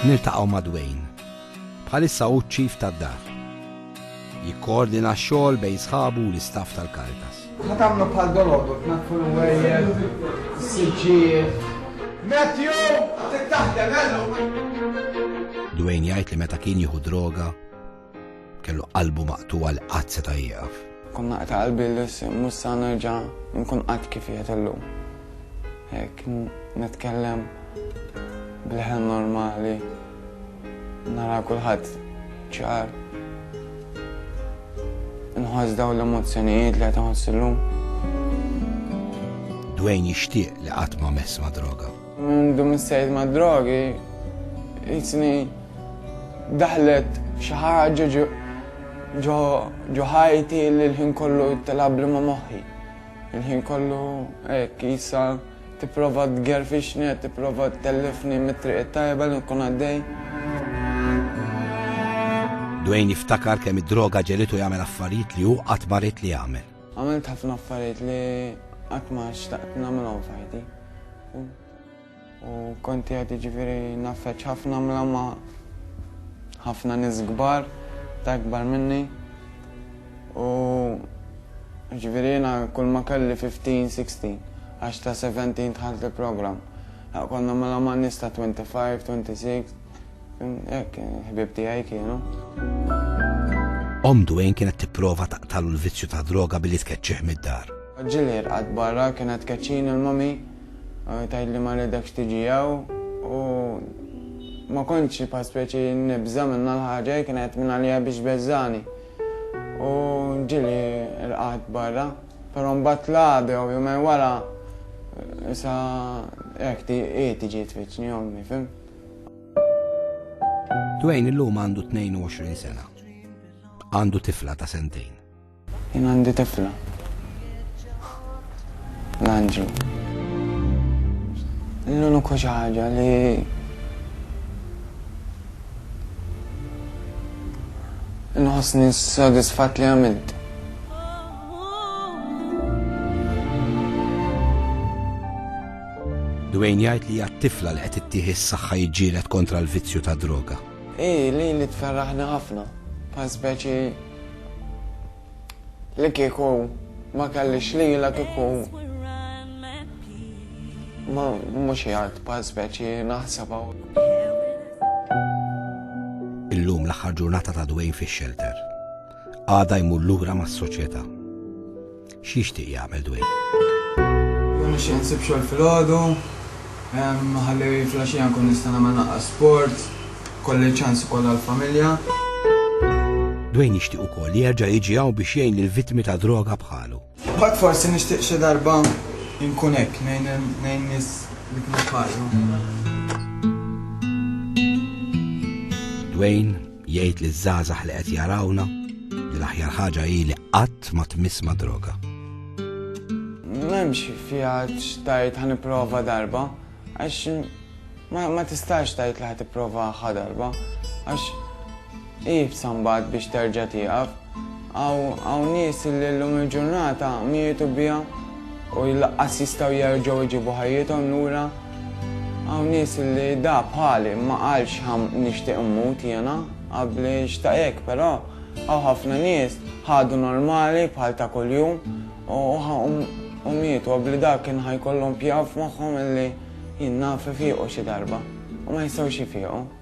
Niltaqgħu ma' Dwayne. Bħalissa hu ċ-chief tad-dar. Jikkoordina x-xogħol bejn sħabu u l-istaff tal-Caritas. Ħa tagħmlu bħal dolodu tnaddfu l-wejjed, is-siġġijiet. Matthew, trid taħdem, Dwayne jgħid li meta kien jieħu droga, Kellu qalbu maqtugħa li qatt seta' jieqaf. Kont naqta' qalbi li mhux sa nerġa' nkun qatt kif qiegħed illum. Hekk nitkellem b'leħen normali, nara kulħadd ċar. Inħoss dawn l-emozzjonijiet li qed inħoss illum. Dwayne jixtieq li qatt ma mess ma' droga. Minn dum issejt mad-drogi, jisni daħlet xi ħaġa ġo ħajti li l-ħin kollu tilgħabli ma' moħħi. Il-ħin kollu hekk jisa tipprova tgerfixni, tipprova tellifni mit-triq it-tajba li nkun għaddej. Dwayne jiftakar kemm id-droga ġegħlitu jagħmel affarijiet li hu qatt ma ried li jagħmel. Għamilt ħafna affarijiet li qatt ma xtaqt nagħmilhom f'ħajti. U kont qiegħed jiġifieri naffeċ ħafna mla ma' ħafna nies kbar ta' ikbar minni. U ġifieri jiena kull ma kelli 15, 16 għax ta' 17 dħalt il-programm. Konna mela ma' nies ta' 25, 26. Hekk, ħbieb tiegħi kienu. Omm Dwayne kienet tipprova taqtalu l-vizzju tad-droga billi tkeċċih mid-dar. Ġieli rqad barra kienet tkeċċini l-mommy eh, tgħidli ma ridekx tiġi hawn u ma kontx xi bħal speċi nibża minna l-ħaġa kienet minn għalija biex beżżani. U ġieli rqad barra, però mbagħad labi u jumej wara eh, sa hekk tiġi tfittni ommi, fim? Dwayne illum għandu 22 sena. Għandu tifla ta' sentejn. Jien għandi tifla. L-anġu. L-uniku xi ħaġa li nħossni sodisfat li għamilt. Dwayne jgħid li hija t-tifla li qed ittih is-saħħa jiġġieled kontra l-vizzju tad-droga. Hi lil li tferraħni ħafna, bħal speċi li kieku ma kellix lilha kieku ma mhux hi art bħal speċi naħsebha. Illum l-aħħar ġurnata ta' Dwayne fix-xelter. Għada jmur lura mas-soċjetà. X'jixtieq jagħmel Dwayne? Jien nixtieq insib xogħol filgħodu, ħalli filgħaxija nkun nista' nagħmel naqra sport, kolli ċans ukoll għall-familja. Dwayne jixtieq ukoll li jerġa' jiġi hawn biex jgħin lill-vittmi ta' droga bħalu. Mbagħad forsi nixtieq xi darba nkun hekk ngħin nies li kienu bħalu. Dwayne Jgħid liż-żgħażagħ li qed jarawna li l-aħjar ħaġa hi li qatt ma tmiss ma' droga. M'hemmx fiha x'tgħid ħa nipprova darba, għax ma tistax tgħid li ħa tipprova ħa darba, għax hi f'sambagħad biex terġa' tieqaf. Hawn nies li llum il-ġurnata mietu biha u laqqas jistgħu jerġgħu jġibu ħajjithom lura. Hawn nies li da bħali ma qalx ha nixtieq immut jiena qabbli xtaq hekk però hawn ħafna nies ħadu normali bħal ta' kuljum u mietu qabbli da kien ha jkollhom pjaw f'moħħhom li jien naf ifiqu xi darba u ma jistgħux jifiqu.